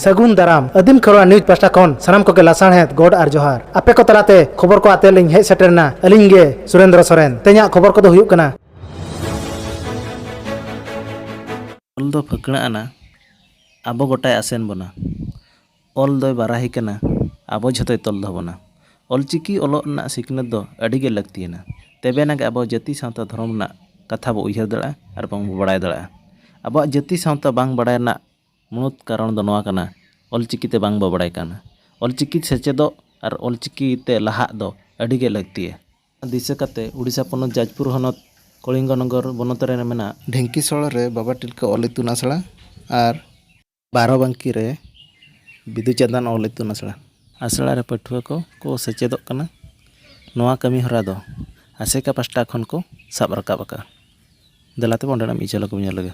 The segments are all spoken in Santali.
ᱥᱟᱹᱜᱩᱱ ᱫᱟᱨᱟᱢ ᱟᱹᱫᱤᱢ ᱠᱷᱚᱨᱣᱟ ᱱᱤᱭᱩᱡᱽ ᱯᱟᱥᱴᱟ ᱠᱷᱚᱱ ᱥᱟᱱᱟᱢ ᱠᱚᱜᱮ ᱞᱟᱥᱟᱬᱦᱮᱫ ᱜᱚᱰ ᱟᱨ ᱡᱚᱦᱟᱨ ᱟᱯᱮ ᱠᱚ ᱛᱟᱞᱟᱛᱮ ᱠᱷᱚᱵᱚᱨ ᱠᱚ ᱟᱛᱮ ᱞᱤᱧ ᱦᱮᱡ ᱥᱮᱴᱮᱨᱱᱟ ᱟᱹᱞᱤᱧ ᱜᱮ ᱥᱩᱨᱮᱱᱫᱨᱚ ᱥᱚᱨᱮᱱ ᱛᱮᱦᱮᱧᱟᱜ ᱠᱷᱚᱵᱚᱨ ᱠᱚᱫᱚ ᱦᱩᱭᱩᱜ ᱠᱟᱱᱟ ᱚᱞ ᱫᱚ ᱯᱷᱟᱹᱠᱬᱟᱹᱜ ᱟᱱᱟ ᱟᱵᱚ ᱜᱚᱴᱟᱭ ᱟᱥᱮᱱ ᱵᱚᱱᱟ ᱚᱞ ᱫᱚᱭ ᱵᱟᱨᱟᱦᱤ ᱠᱟᱱᱟ ᱟᱵᱚ ᱡᱷᱚᱛᱚᱭ ᱛᱚᱞ ᱫᱚᱦᱚ ᱵᱚᱱᱟ ᱚᱞ ᱪᱤᱠᱤ ᱚᱞᱚᱜ ᱨᱮᱱᱟᱜ ᱥᱤᱠᱷᱱᱟᱹᱛ ᱫᱚ ᱟᱹᱰᱤ ᱜᱮ ᱞᱟᱹᱠᱛᱤ ᱟᱱᱟ ᱛᱮᱵᱮ ᱟᱱᱟᱜ ᱜᱮ ᱟᱵᱚ ᱡᱟᱹᱛᱤ ᱥᱟᱶᱛᱟ ᱫᱷᱚᱨᱚᱢ ᱨᱮᱱᱟᱜ ᱠᱟᱛᱷᱟ ᱵᱚ ᱩᱭᱦᱟᱹᱨ ᱫᱟᱲᱮᱭᱟᱜᱼᱟ ᱟᱨ ᱵᱟᱝ ᱵᱚ ᱵᱟᱲᱟᱭ ᱫᱟᱲᱮᱭᱟᱜᱼᱟ ᱟᱵᱚᱣᱟᱜ ᱡᱟᱹᱛᱤ ᱥᱟᱶᱛᱟ ᱵᱟᱝ ᱵᱟᱲᱟᱭ ᱨᱮᱱᱟᱜ ᱢᱩᱬᱩᱛ ᱠᱟᱨᱚᱱ ᱫᱚ ᱱᱚᱣᱟ ᱠᱟᱱᱟ ᱚᱞ ᱪᱤᱠᱤ ᱛᱮ ᱵᱟᱝ ᱵᱚ ᱵᱟᱲᱟᱭ ᱠᱟᱱᱟ ᱚᱞ ᱪᱤᱠᱤ ᱥᱮᱪᱮᱫᱚᱜ ᱟᱨ ᱚᱞ ᱪᱤᱠᱤ ᱛᱮ ᱞᱟᱦᱟᱜ ᱫᱚ ᱟᱹᱰᱤ ᱜᱮ ᱞᱟᱹᱠᱛᱤᱭᱟ ᱫᱤᱥᱟᱹ ᱠᱟᱛᱮ ᱳᱰᱤᱥᱟ ᱯᱚᱱᱚᱛ ᱡᱟᱡᱽᱯᱩᱨ ᱦᱚᱱᱚᱛ ᱠᱚᱞᱤᱝᱜᱚᱱᱚᱜᱚᱨ ᱵᱚᱱᱚᱛ ᱨᱮ ᱢᱮᱱᱟᱜᱼᱟ᱾ ᱰᱷᱮᱝᱠᱤᱥᱚᱲ ᱨᱮ ᱵᱟᱵᱟ ᱴᱤᱞᱠᱟᱹ ᱚᱞ ᱤᱛᱩᱱ ᱟᱥᱲᱟ ᱟᱨ᱾ ᱵᱟᱨᱚᱵᱟᱝᱠᱤ ᱨᱮ ᱵᱤᱫᱩ ᱪᱟᱸᱫᱟᱱ ᱚᱞ ᱤᱛᱩᱱ ᱟᱥᱲᱟ᱾ ᱟᱥᱲᱟ ᱨᱮ ᱯᱟᱹᱴᱷᱩᱣᱟᱹ ᱠᱚ ᱠᱚ ᱥᱮᱪᱮᱫᱚᱜ ᱠᱟᱱᱟ᱾ ᱱᱚᱣᱟ ᱠᱟᱹᱢᱤ ᱦᱚᱨᱟ ᱫᱚ ᱟᱥᱮᱠᱟ ᱯᱟᱥᱴᱟ ᱠᱷᱚᱱ ᱠᱚ ᱥᱟᱵ ᱨᱟᱠᱟᱵ ᱟᱠᱟᱫᱼᱟ᱾ ᱫᱮᱞᱟ ᱛᱚᱵᱮ ᱚᱸᱰᱮᱱᱟᱜ ᱢᱤᱫ ᱡᱷᱚᱞᱚᱠ ᱵᱚᱱ ᱧᱮᱞ ᱞᱮᱜᱮ᱾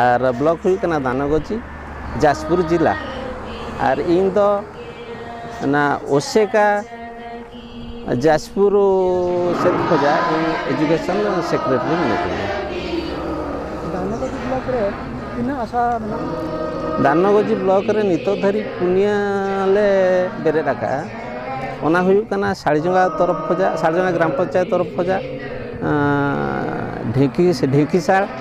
ᱟᱨ ᱵᱞᱚᱠ ᱦᱩᱭᱩᱜ ᱠᱟᱱᱟ ᱫᱟᱱᱚᱜᱚᱡᱤ ᱡᱟᱡᱽᱯᱩᱨ ᱡᱮᱞᱟ ᱟᱨ ᱤᱧ ᱫᱚ ᱚᱱᱟ ᱚᱥᱮᱠᱟ ᱡᱟᱡᱽᱯᱩᱨ ᱥᱮᱫ ᱠᱷᱚᱡᱟᱜ ᱤᱧ ᱮᱰᱩᱠᱮᱥᱚᱱ ᱥᱮᱠᱨᱮᱴᱟᱨᱤ ᱢᱤᱱᱟᱹᱧᱟ ᱫᱟᱱᱚᱜᱚᱡᱤ ᱵᱞᱚᱠ ᱨᱮ ᱛᱤᱱᱟᱹᱜ ᱟᱥᱟ ᱢᱮᱱᱟᱜᱼᱟ ᱫᱟᱱᱚᱜᱚᱡᱤ ᱵᱞᱚᱠ ᱨᱮ ᱱᱤᱛᱚᱜ ᱫᱷᱟᱹᱨᱤᱡ ᱯᱩᱱᱭᱟᱹ ᱞᱮ ᱵᱮᱨᱮᱫ ᱟᱠᱟᱫᱼᱟ ᱚᱱᱟ ᱦᱩᱭᱩᱜ ᱠᱟᱱᱟ ᱥᱟᱲᱡᱚᱸᱜᱟ ᱛᱚᱨᱚᱯᱷ ᱠᱷᱚᱡᱟᱜ ᱥᱟᱲᱡᱚᱸᱜᱟ ᱜᱨᱟᱢ ᱯᱚᱧᱪᱟᱭᱮᱛ ᱛᱚᱨᱚᱯᱷ ᱠᱷᱚᱡᱟᱜ ᱰᱷᱤᱠᱤ ᱰᱷᱤᱠᱤᱥᱟᱲ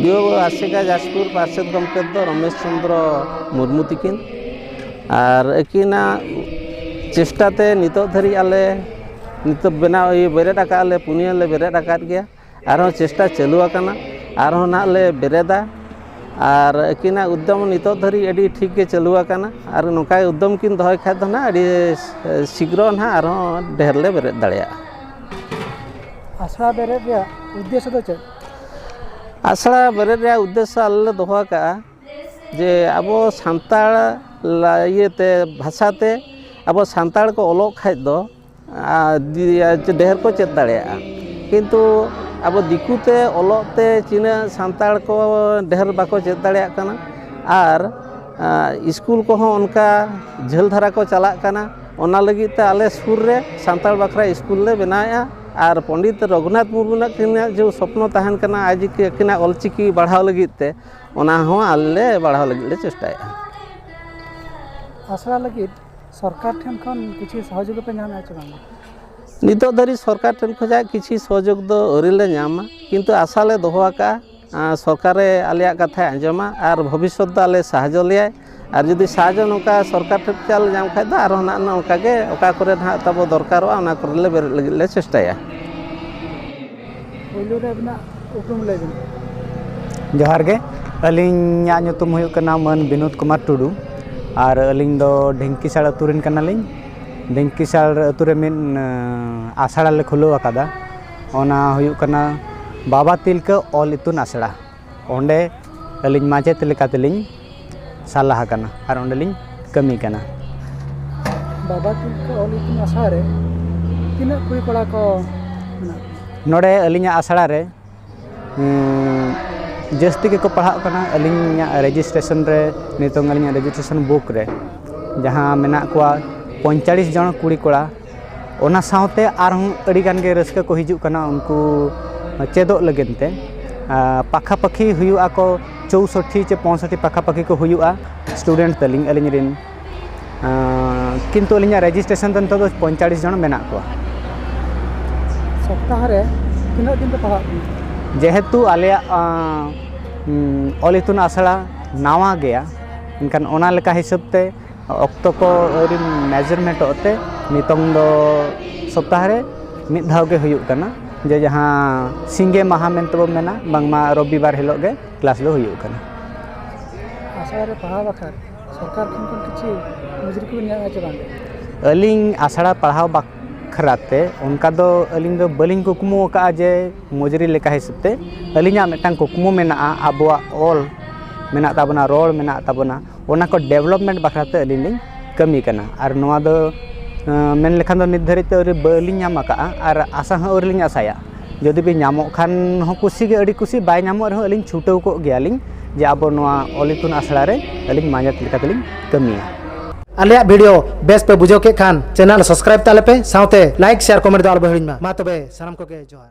ᱵᱤᱭᱳ ᱟᱥᱮᱠᱟ ᱡᱟᱡᱽᱯᱩᱨ ᱯᱟᱨᱥᱮᱛ ᱜᱚᱢᱠᱮ ᱫᱚ ᱨᱚᱢᱮᱥ ᱪᱚᱱᱫᱨᱚ ᱢᱩᱨᱢᱩ ᱛᱟᱹᱠᱤᱱ ᱟᱨ ᱟᱹᱠᱤᱱᱟᱜ ᱪᱮᱥᱴᱟ ᱛᱮ ᱱᱤᱛᱚᱜ ᱫᱷᱟᱹᱨᱤᱡ ᱟᱞᱮ ᱱᱤᱛᱚᱜ ᱵᱮᱱᱟᱣ ᱤᱭᱟᱹ ᱵᱮᱨᱮᱫ ᱟᱠᱟᱫ ᱞᱮ ᱯᱩᱱᱭᱟᱹ ᱞᱮ ᱵᱮᱨᱮᱫ ᱟᱠᱟᱫ ᱜᱮᱭᱟ ᱟᱨᱦᱚᱸ ᱪᱮᱥᱴᱟ ᱪᱟᱹᱞᱩ ᱟᱠᱟᱱᱟ ᱟᱨᱦᱚᱸ ᱱᱟᱦᱟᱜ ᱞᱮ ᱵᱮᱨᱮᱫᱟ ᱟᱨ ᱟᱹᱠᱤᱱᱟᱜ ᱩᱫᱽᱫᱚᱢ ᱱᱤᱛᱚᱜ ᱫᱷᱟᱹᱨᱤᱡ ᱟᱹᱰᱤ ᱴᱷᱤᱠ ᱜᱮ ᱪᱟᱹᱞᱩ ᱟᱠᱟᱱᱟ ᱟᱨ ᱱᱚᱝᱠᱟ ᱩᱫᱽᱫᱚᱢ ᱠᱤᱱ ᱫᱚᱦᱚᱭ ᱠᱷᱟᱱ ᱫᱚ ᱱᱟᱦᱟᱜ ᱟᱹᱰᱤ ᱥᱤᱜᱽᱨᱚ ᱱᱟᱦᱟᱜ ᱟᱨᱦᱚᱸ ᱰᱷᱮᱨ ᱞᱮ ᱵᱮᱨᱮᱫ ᱫᱟᱲᱮᱭᱟᱜᱼᱟ ᱟᱥᱲᱟ ᱵᱮᱨᱮᱫ ᱨᱮᱭᱟᱜ ᱩᱫᱽᱫᱮᱥᱥᱚ ᱫᱚ ᱪᱮᱫ ᱟᱥᱲᱟ ᱵᱮᱨᱮᱫ ᱨᱮᱭᱟᱜ ᱩᱫᱽᱫᱮᱥᱥᱚ ᱟᱞᱮ ᱞᱮ ᱫᱚᱦᱚ ᱟᱠᱟᱫᱼᱟ ᱡᱮ ᱟᱵᱚ ᱥᱟᱱᱛᱟᱲ ᱤᱭᱟᱹᱛᱮ ᱵᱷᱟᱥᱟᱛᱮ ᱟᱵᱚ ᱥᱟᱱᱛᱟᱲ ᱠᱚ ᱚᱞᱚᱜ ᱠᱷᱟᱱ ᱫᱚ ᱰᱷᱮᱨ ᱠᱚ ᱪᱮᱫ ᱫᱟᱲᱮᱭᱟᱜᱼᱟ ᱠᱤᱱᱛᱩ ᱟᱵᱚ ᱫᱤᱠᱩ ᱛᱮ ᱚᱞᱚᱜ ᱛᱮ ᱛᱤᱱᱟᱹᱜ ᱥᱟᱱᱛᱟᱲ ᱠᱚ ᱰᱷᱮᱨ ᱵᱟᱠᱚ ᱪᱮᱫ ᱫᱟᱲᱮᱭᱟᱜ ᱠᱟᱱᱟ ᱟᱨ ᱤᱥᱠᱩᱞ ᱠᱚᱦᱚᱸ ᱚᱱᱠᱟ ᱡᱷᱟᱹᱞ ᱫᱷᱟᱨᱟ ᱠᱚ ᱪᱟᱞᱟᱜ ᱠᱟᱱᱟ ᱚᱱᱟ ᱞᱟᱹᱜᱤᱫ ᱛᱮ ᱟᱞᱮ ᱥᱩᱨ ᱨᱮ ᱥᱟᱱᱛᱟᱲ ᱵᱟᱠᱷᱨᱟ ᱤᱥᱠᱩᱞ ᱞᱮ ᱵᱮᱱᱟᱣᱮᱜᱼᱟ ᱟᱨ ᱯᱚᱱᱰᱤᱛ ᱨᱚᱜᱷᱩᱱᱟᱛᱷ ᱢᱩᱨᱢᱩ ᱛᱟᱹᱠᱤᱱᱟᱜ ᱡᱮ ᱥᱚᱯᱱᱚ ᱛᱟᱦᱮᱱ ᱠᱟᱱᱟ ᱟᱡ ᱟᱹᱠᱤᱱᱟᱜ ᱚᱞ ᱪᱤᱠᱤ ᱵᱟᱲᱦᱟᱣ ᱞᱟᱹᱜᱤᱫ ᱛᱮ ᱚᱱᱟ ᱦᱚᱸ ᱟᱞᱮ ᱞᱮ ᱵᱟᱲᱦᱟᱣ ᱞᱟᱹᱜᱤᱫ ᱞᱮ ᱪᱮᱥᱴᱟᱭᱮᱜᱼᱟ ᱟᱥᱲᱟ ᱞᱟᱹᱜᱤᱫ ᱥᱚᱨᱠᱟᱨ ᱴᱷᱮᱱ ᱠᱷᱚᱱ ᱠᱤᱪᱷᱩ ᱥᱚᱦᱚᱡᱳᱜᱽ ᱯᱮ ᱧᱟᱢᱮᱜᱼᱟ ᱥᱮ ᱵᱟᱝ ᱱᱤᱛᱚᱜ ᱫᱷᱟᱹᱨᱤᱡ ᱥᱚᱨᱠᱟᱨ ᱴᱷᱮᱱ ᱠᱷᱚᱱᱟᱜ ᱠᱤᱪᱷᱩ ᱥᱚᱦᱚᱡᱳᱜᱽ ᱫᱚ ᱟᱹᱣᱨᱤ ᱞᱮ ᱧᱟᱢᱟ ᱠᱤᱱᱛᱩ ᱟᱥᱟ ᱞᱮ ᱫᱚᱦᱚ ᱟᱠᱟᱜᱼᱟ ᱥᱚᱨᱠᱟᱨᱮ ᱟᱞᱮᱭᱟᱜ ᱠᱟᱛᱷᱟᱭ ᱟᱸᱡᱚᱢᱟ ᱟᱨ ᱵᱷᱚᱵᱤᱥᱥᱚᱛ ᱫᱚ ᱟᱞᱮ ᱥᱟᱦᱟᱡᱽᱡᱚ ᱞᱮᱭᱟᱭ ᱟᱨ ᱡᱩᱫᱤ ᱥᱟᱦᱟᱡᱽᱡᱚ ᱱᱚᱝᱠᱟ ᱥᱚᱨᱠᱟᱨ ᱴᱷᱮᱱ ᱠᱷᱚᱱ ᱟᱞᱮ ᱧᱟᱢ ᱠᱷᱟᱱ ᱫᱚ ᱟᱨᱚ ᱱᱟᱜ ᱱᱚᱝᱠᱟ ᱜᱮ ᱚᱠᱟ ᱠᱚᱨᱮ ᱱᱟᱜ ᱛᱟᱵᱚ ᱫᱚᱨᱠᱟᱨᱚᱜᱼᱟ ᱚᱱᱟ ᱠᱚᱨᱮ ᱞᱮ ᱵᱮᱨᱮᱫ ᱞᱟᱹᱜᱤᱫ ᱞᱮ ᱪᱮᱥᱴᱟᱭᱟ ᱯᱳᱭᱞᱳ ᱨᱮ ᱟᱹᱵᱤᱱᱟᱜ ᱩᱯᱨᱩᱢ ᱞᱟᱹᱭ ᱵᱤᱱ ᱡᱚᱦᱟᱨ ᱜᱮ ᱟᱹᱞᱤᱧᱟᱜ ᱧᱩᱛᱩᱢ ᱦᱩᱭᱩᱜ ᱠᱟᱱᱟ ᱢᱟᱹᱱ ᱵᱤᱱᱳᱫ ᱠᱩᱢᱟᱨ ᱴᱩᱰᱩ ᱟᱨ ᱟᱹᱞᱤᱧ ᱫᱚ ᱰᱷᱤᱝᱠᱤᱥᱟᱲ ᱟᱹᱛᱩ ᱨᱮᱱ ᱠᱟᱱᱟᱞᱤᱧ ᱰᱷᱤᱝᱠᱤᱥᱟᱲ ᱟᱹᱛᱩ ᱨᱮ ᱢᱤᱫ ᱟᱥᱲᱟ ᱞᱮ ᱠᱷᱩᱞᱟᱹᱣ ᱟᱠᱟᱫᱟ ᱚᱱᱟ ᱦᱩᱭᱩᱜ ᱠᱟᱱᱟ ᱵᱟᱵᱟ ᱛᱤᱞᱠᱟᱹ ᱚᱞ ᱤᱛᱩᱱ ᱟᱥᱲᱟ ᱚᱸᱰᱮ ᱟᱹᱞᱤᱧ ᱢᱟᱪᱮᱫ ᱞᱮᱠᱟ ᱛᱮᱞᱤᱧ ᱥᱟᱞᱟ ᱟᱠᱟᱱᱟ ᱟᱨ ᱚᱸᱰᱮ ᱞᱤᱧ ᱠᱟᱹᱢᱤ ᱠᱟᱱᱟ ᱵᱟᱵᱟ ᱛᱤᱞᱠᱟᱹ ᱚᱞ ᱤᱛᱩᱱ ᱟᱥᱲᱟ ᱨᱮ ᱛᱤᱱᱟᱹᱜ ᱠᱩᱲᱤ ᱠᱚᱲᱟ ᱠᱚ ᱢᱮᱱᱟᱜ ᱠᱚᱣᱟ ᱱᱚᱰᱮ ᱟᱹᱞᱤᱧᱟᱜ ᱟᱥᱲᱟ ᱨᱮ ᱡᱟᱹᱥᱛᱤ ᱜᱮᱠᱚ ᱯᱟᱲᱦᱟᱜ ᱠᱟᱱᱟ ᱟᱹᱞᱤᱧᱟᱜ ᱨᱮᱡᱤᱥᱴᱨᱮᱥᱚᱱ ᱨᱮ ᱱᱤᱛᱚᱝ ᱟᱹᱞᱤᱧᱟᱜ ᱨᱮᱡᱤᱥᱴᱨᱮᱥᱚᱱ ᱵᱩᱠ ᱨᱮ ᱡᱟᱦᱟᱸ ᱢᱮᱱᱟᱜ ᱠᱚᱣᱟ ᱯᱚᱸᱭᱛᱟᱞᱞᱤᱥ ᱡᱚᱱ ᱠᱩᱲᱤ ᱠᱚᱲᱟ ᱚᱱᱟ ᱥᱟᱶᱛᱮ ᱟᱨᱦᱚᱸ ᱟᱹᱰᱤ ᱜᱟᱱ ᱜᱮ ᱨᱟᱹᱥᱠᱟᱹ ᱠᱚ ᱦᱤᱡᱩᱜ ᱠᱟᱱᱟ ᱩᱱᱠᱩ ᱪᱮᱫᱚᱜ ᱞᱟᱹᱜᱤᱫ ᱛᱮ ᱯᱟᱠᱷᱟ ᱯᱟᱹᱠᱷᱤ ᱦᱩᱭᱩᱜ ᱟᱠᱚ ᱪᱳᱣᱥᱚᱴᱴᱤ ᱥᱮ ᱯᱚᱸᱭᱥᱚᱴᱴᱤ ᱯᱟᱠᱷᱟ ᱯᱟᱹᱠᱷᱤ ᱠᱚ ᱦᱩᱭᱩᱜᱼᱟ ᱥᱴᱩᱰᱮᱱᱴ ᱛᱟᱹᱞᱤᱧ ᱟᱹᱞᱤᱧ ᱨᱮᱱ ᱠᱤᱱᱛᱩ ᱟᱹᱞᱤᱧᱟᱜ ᱨᱮᱡᱤᱥᱴᱨᱮᱥᱚᱱ ᱫᱚ ᱱᱤᱛᱚᱜ ᱫᱚ ᱯᱚᱸᱭᱛᱟᱞᱞᱤᱥ ᱡᱚᱱ ᱢᱮᱱᱟᱜ ᱠᱚᱣᱟ ᱥᱚᱯᱛᱟᱦᱚ ᱨᱮ ᱛᱤᱱᱟᱹᱜ ᱫᱤᱱ ᱯᱮ ᱯᱟᱲᱦᱟᱜ ᱠᱟᱱᱟ ᱡᱮᱦᱮᱛᱩ ᱟᱞᱮᱭᱟᱜ ᱚᱞ ᱤᱛᱩᱱ ᱟᱥᱲᱟ ᱱᱟᱣᱟ ᱜᱮᱭᱟ ᱮᱱᱠᱷᱟᱱ ᱚᱱᱟ ᱞᱮᱠᱟ ᱦᱤᱥᱟᱹᱵ ᱛᱮ ᱚᱠᱛᱚ ᱠᱚ ᱟᱹᱣᱨᱤ ᱢᱮᱡᱟᱨᱢᱮᱱᱴᱚᱜ ᱛᱮ ᱱᱤᱛᱚᱝ ᱫᱚ ᱥᱚᱯᱛᱟᱦᱚ ᱨᱮ ᱢᱤᱫ ᱫᱷᱟᱣ ᱜᱮ ᱦᱩᱭᱩᱜ ᱠᱟᱱᱟ ᱡᱮ ᱡᱟᱦᱟᱸ ᱥᱤᱸᱜᱮ ᱢᱟᱦᱟ ᱢᱮᱱᱛᱮ ᱵᱚᱱ ᱢᱮᱱᱟ ᱵᱟᱝᱢᱟ ᱨᱚᱵᱤ ᱵᱟᱨ ᱦᱤᱞᱳᱜ ᱜᱮ ᱠᱞᱟᱥ ᱫᱚ ᱦᱩᱭᱩᱜ ᱠᱟᱱᱟ ᱟᱥᱲᱟ ᱨᱮ ᱯᱟᱲᱦᱟᱣ ᱵᱟᱠᱷᱨᱟ ᱥᱚᱨᱠᱟᱨ ᱠᱷᱚᱱ ᱠᱷᱚᱱ ᱠᱤᱪᱷᱩ ᱢᱚᱡᱩᱨᱤ ᱠᱚ ᱧᱟᱢᱟ ᱥᱮ ᱵᱟᱝ ᱟᱹᱞᱤᱧ ᱟᱥᱲᱟ ᱯᱟᱲᱦᱟᱣ ᱵᱟᱠᱷᱨᱟ ᱛᱮ ᱚᱱᱠᱟ ᱫᱚ ᱟᱹᱞᱤᱧ ᱫᱚ ᱵᱟᱹᱞᱤᱧ ᱠᱩᱠᱢᱩ ᱟᱠᱟᱫᱼᱟ ᱡᱮ ᱢᱚᱡᱩᱨᱤ ᱞᱮᱠᱟ ᱦᱤᱥᱟᱹᱵ ᱛᱮ ᱟᱹᱞᱤᱧᱟᱜ ᱢᱤᱫᱴᱟᱝ ᱠᱩᱠᱢᱩ ᱢᱮᱱᱟᱜᱼᱟ ᱟᱵᱚᱣᱟᱜ ᱚᱞ ᱢᱮᱱᱟᱜ ᱛᱟᱵᱚᱱᱟ ᱨᱚᱲ ᱢᱮᱱᱟᱜ ᱛᱟᱵᱚᱱᱟ ᱚᱱᱟ ᱠᱚ ᱰᱮᱵᱷᱞᱚᱯᱢᱮᱱᱴ ᱵᱟᱠᱷᱨᱟ ᱛᱮ ᱟᱹᱞᱤᱧ ᱞᱤᱧ ᱠᱟᱹᱢᱤ ᱠᱟᱱᱟ ᱟᱨ ᱱᱚᱣᱟ ᱫᱚ ᱢᱮᱱ ᱞᱮᱠᱷᱟᱱ ᱫᱚ ᱱᱤᱛ ᱫᱷᱟᱹᱨᱤᱡ ᱛᱮ ᱟᱹᱣᱨᱤ ᱵᱟᱹᱞᱤᱧ ᱧᱟᱢ ᱟᱠᱟᱫᱼᱟ ᱟᱨ ᱟᱥᱟ ᱦᱚᱸ ᱟᱹᱣᱨᱤ ᱞᱤᱧ ᱟᱥᱟᱭᱟ ᱡᱩᱫᱤ ᱵᱤᱱ ᱧᱟᱢᱚᱜ ᱠᱷᱟᱱ ᱦᱚᱸ ᱠᱩᱥᱤ ᱜᱮ ᱟᱹᱰᱤ ᱠᱩᱥᱤ ᱵᱟᱭ ᱧᱟᱢᱚᱜ ᱨᱮᱦᱚᱸ ᱟᱹᱞᱤᱧ ᱪᱷᱩᱴᱟᱹᱣ ᱠᱚᱜ ᱜᱮᱭᱟᱞᱤᱧ ᱡᱮ ᱟᱵᱚ ᱱᱚᱣᱟ ᱚᱞ ᱤᱛᱩᱱ ᱟᱥᱲᱟ ᱨᱮ ᱟᱹᱞᱤᱧ ᱢᱟᱪᱮᱫ ᱞᱮᱠᱟ ᱛᱮᱞᱤᱧ ᱠᱟᱹᱢᱤᱭᱟ ᱟᱞᱮᱭᱟᱜ ᱵᱷᱤᱰᱤᱭᱳ ᱵᱮᱥ ᱯᱮ ᱵᱩᱡᱷᱟᱹᱣ ᱠᱮᱫ ᱠᱷᱟᱱ ᱪᱮᱱᱮᱞ ᱥᱟᱵᱥᱠᱨᱟᱭᱤᱵ ᱛᱟᱞᱮ ᱯᱮ ᱥᱟᱶᱛᱮ ᱞᱟᱭᱤᱠ ᱥᱮᱭᱟᱨ ᱠᱚᱢᱮᱱᱴ ᱫᱚ ᱟᱞᱚ ᱯᱮ ᱦᱤᱲᱤᱧ ᱢᱟ ᱢᱟ ᱛᱚᱵᱮ ᱥᱟᱱᱟᱢ ᱠᱚᱜᱮ ᱡᱚᱦᱟᱨ